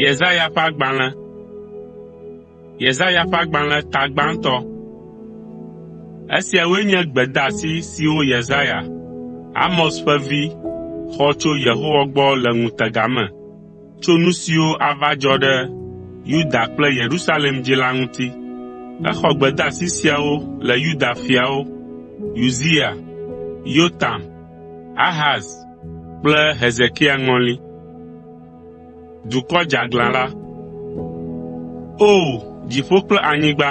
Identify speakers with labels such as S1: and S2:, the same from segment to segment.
S1: Yesaya ƒe agbalẽ. Yesaya ƒe agbalẽ ta gbãtɔ. Esiawoe nye gbedeasi siwo Yesaya, Amoz ƒe vi, xɔ tso Yehowa gbɔ le ŋutega me tso nu siwo ava dzɔ ɖe Yuda kple Yerusalem dzi la ŋuti. Exɔ gbedeasi siawo le Yuda fiawo, Uzia, Yotam, Ahaz kple Hezekia ŋɔli. Dukɔ dzeaglã la. O! Dziƒo kple anyigba,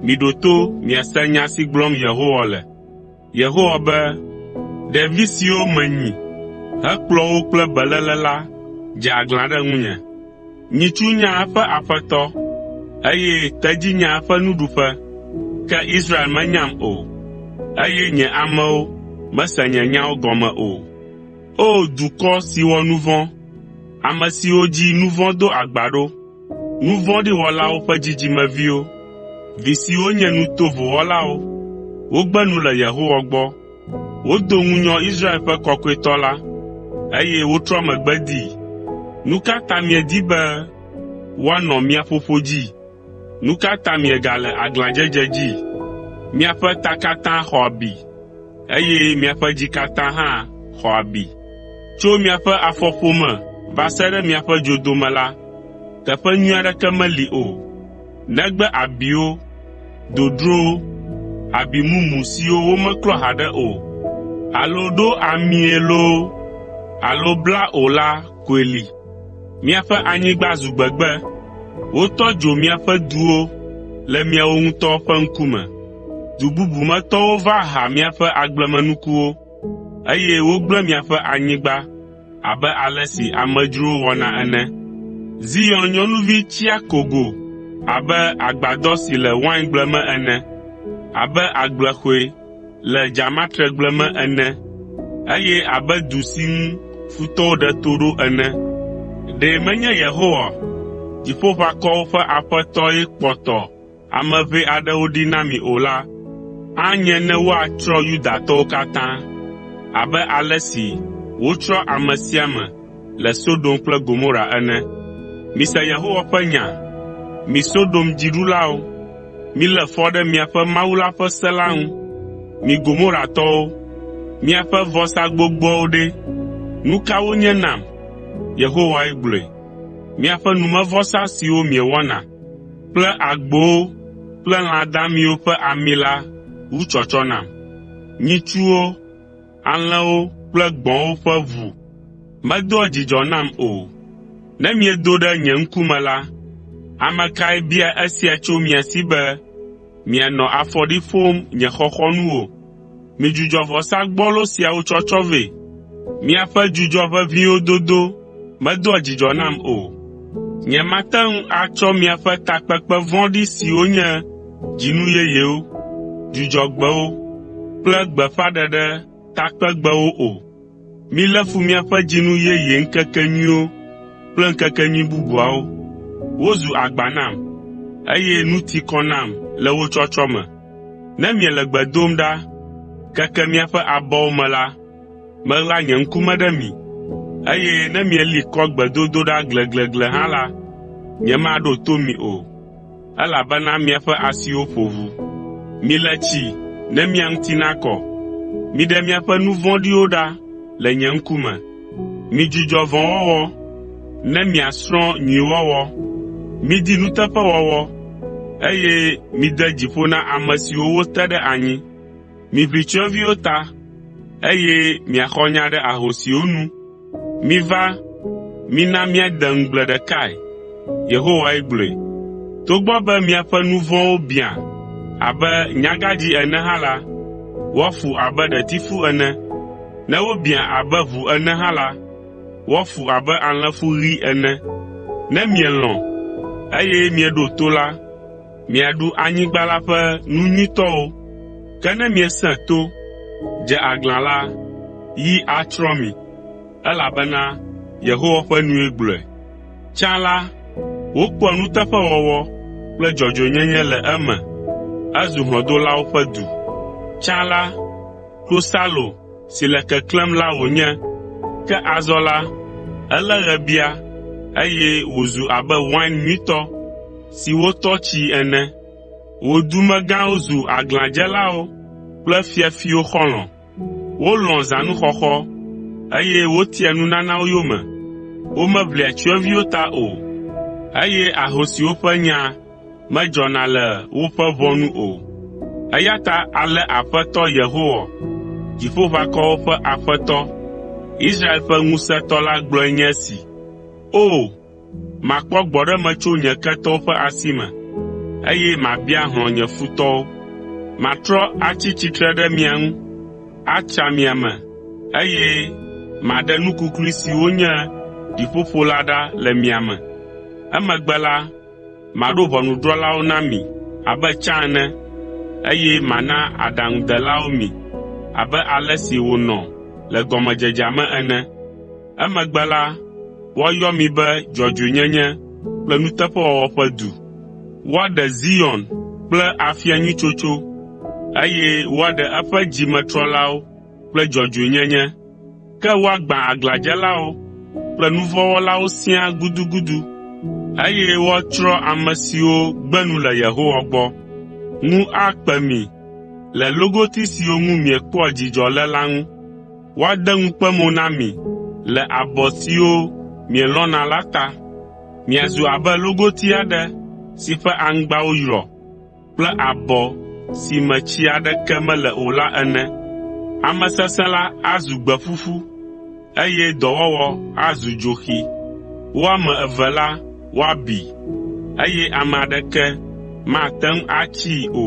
S1: miɖo to miase nya si gblɔm Yehowa le. Yehowa be, “Ɖevi siwo menyi hekplɔ wo kple beléle la dze aglã ɖe ŋunye. Nyitsu nya eƒe aƒetɔ, eye tedzi nya eƒe nuɖuƒe, ke Israel menyam o, eye nye amewo mese nye nyawo gɔme o. O dukɔ si wɔ nu vɔ̃, ame siwo dzi nu vɔ̃ do agba ɖo, nu vɔ̃ɖi wɔlawo ƒe dzidzimeviwo, vi siwo nye nu tovo wɔlawo, wogbe nu le Yehowa gbɔ, Wodo ŋunyɔ Israel ƒe Kɔkɔetɔ la, eye wotrɔ megbe dii. Nu ka ta miedi be woanɔ mia ƒoƒo dzi? Nu ka ta miegale aglãdzedze dzi? Miaƒe ta katã xɔ abi, eye miaƒe dzi katã hã xɔ abi. Tso miaƒe afɔƒome va se ɖe miaƒe dzodome la, teƒe nyui aɖeke meli o. Negbe abiwo, dodrowo, abi mumu siwo womeklɔ haɖe o, alo ɖo amie loo alo bla o la koe li. Miaƒe anyigba zu gbegbe, wotɔ dzo miaƒe duwo le miawo ŋutɔ ƒe ŋkume. Du bubu me tɔwo va ha miaƒe agblemenukuwo, eye wogblẽ miaƒe anyigba. abe ale si amedzrowo wɔna ene. Zion nyɔnuvi tsia kogo abe agbadɔ si le waingble me ene, abe agblexɔe le dzamatregble me ene, eye abe du si ŋu futɔwo ɖe to ɖo ene. Ɖe menye Yehowa, Dziƒoʋakɔwo ƒe Aƒetɔe kpɔtɔ, ame ʋɛ aɖewo ɖi na mi o la, anye ne woatsrɔ̃ Yudatɔwo katã abe ale si wotsrɔ̃ ame sia ame le Sodom kple Gomora ene. Mise Yehowa ƒe nya, mi Sodom dziɖulawo, milé fɔ ɖe miaƒe Mawu la ƒe se la ŋu. Mi Gomoratɔwo, miaƒe vɔsa gbogboawo ɖe, nu ka wonye nam?” Yehowae gblɔe. “Miaƒe numevɔsa siwo miewɔna.” kple agbowo kple lã damiwo ƒe ami la ŋu tsɔtsɔ nam. Nyitsuwo, alẽwo kple gbɔ̃wo ƒe ʋu medoa dzidzɔ nam o. Ne miedo ɖe nye ŋkume la, ame kae bia esia tso mia si be mianɔ afɔɖi ƒom nye xɔxɔnuwo? Midzudzɔ vɔsa gbɔlo siawo tsɔtsɔ vɛ. Miaƒe dzudzɔ ʋeʋĩwo dodo medoa dzidzɔ nam o. Nyemate ŋu atsɔ miaƒe takpekpe vɔ̃ɖi siwo nye dzinu yeyewo, Dzudzɔgbewo kple gbeƒãɖeɖe takpegbewo o. Milé fu miaƒe dzinu yeye ŋkekenyuiwo kple ŋkekenyui bubuawo. Wozu agba nam, eye nu ti kɔ nam le wo tsɔtsɔ me. Ne miele gbe dom ɖa keke miaƒe abɔwo me la, meɣla nye ŋku me ɖe mi, eye ne mieli kɔ gbedodoɖa gleglegle hã la, nyemaɖo to mi o. Elabena miaƒe asiwo ƒo ʋu. Mile tsi ne mia ŋuti nakɔ. Miɖe miaƒe nu vɔ̃ɖiwo ɖa le nye ŋkume. Midzudzɔ vɔ̃wɔwɔ, ne miasrɔ̃ nyuiwɔwɔ. Midi nuteƒewɔwɔ, eye mide dzi ƒo na ame siwo wote ɖe anyi. Miʋli tsyɔ̃eviwo ta, eye miaxɔ nya ɖe ahosiwo nu. Miva, mina míade ŋugble ɖekae.” Yehowae gblɔe. “Togbɔ be miaƒe nu vɔ̃wo biã abe nyagãdzĩ ene hã la, woafu abe ɖetifu ene. Ne wobiã abe ʋu ene hã la, woafu abe alẽfu ɣi ene. Ne mielɔ̃, eye mieɖo to la, miaɖu anyigba la ƒe nu nyuitɔwo. Ke ne miesẽ to, dze aglã la, yi atsrɔ̃ mi, elabena Yehowa ƒe nue gblɔe. Tsã la, wokpɔa nuteƒewɔwɔ kple dzɔdzɔenyenye le eme. Ezu hlɔ̃dolawo ƒe du. Tsã la, klosalo si le keklẽm la wònye, ke azɔ la, elé ɣebia, eye wòzu abe wain nyuitɔ. siwo tɔ tsii ene. Wò dumegãwo zu aglãdzelawo kple fiafiwo xɔlɔ̃. Wolɔ̃a zãnuxɔxɔ, eye wotia nunanawo yome. Womeʋlia tsyɔ̃eviwo ta o, eye ahosiwo ƒe nya medzɔna le woƒe ʋɔ nu o. Eya ta ale Aƒetɔ Yehowa, Dziƒoʋakɔwo ƒe Aƒetɔ, Israel ƒe Ŋusẽtɔ la gblɔe nye esi, “O! Makpɔ gbɔɖeme tso nye ketɔwo ƒe asi me, eye mabia hlɔ̃ nye futɔwo. Matrɔ atsi tsitre ɖe mia ŋu, atsa mia me, eye maɖe nu kuklui siwo nye ɖiƒoƒo la ɖa le mia me. Emegbe la, maɖo ʋɔnudrɔ̃lawo na mi abe tsã ene, eye mana aɖaŋudelawo mi abe ale si wònɔ le gɔmedzedzea me ene. Emegbe la, woayɔ mi be dzɔdzɔenyenye kple nuteƒewɔwɔ ƒe du. Woaɖe Zion kple afia nyui tsotso, eye woaɖe eƒe dzimetrɔlawo kple dzɔdzɔenyenye. Ke woagbã aglãdzelawo kple nu vɔ̃ wɔlawo siaa gudugudu, eye woatsrɔ̃ ame siwo gbe nu le Yehowa gbɔ. Ŋu akpe mi le logoti siwo ŋu miekpɔa dzidzɔ le la ŋu. woade ŋukpe mo na mi le abɔ siwo mielɔ̃na la ta. Miazu abe logoti aɖe si ƒe aŋgbawo yrɔ kple abɔ si me tsi aɖeke mele o la ene. Ame sesẽ la azu gbe ƒuƒu, eye dɔwɔwɔ azu dzoxi. Wo ame eve la woabi, eye ame aɖeke mate ŋu atsii o.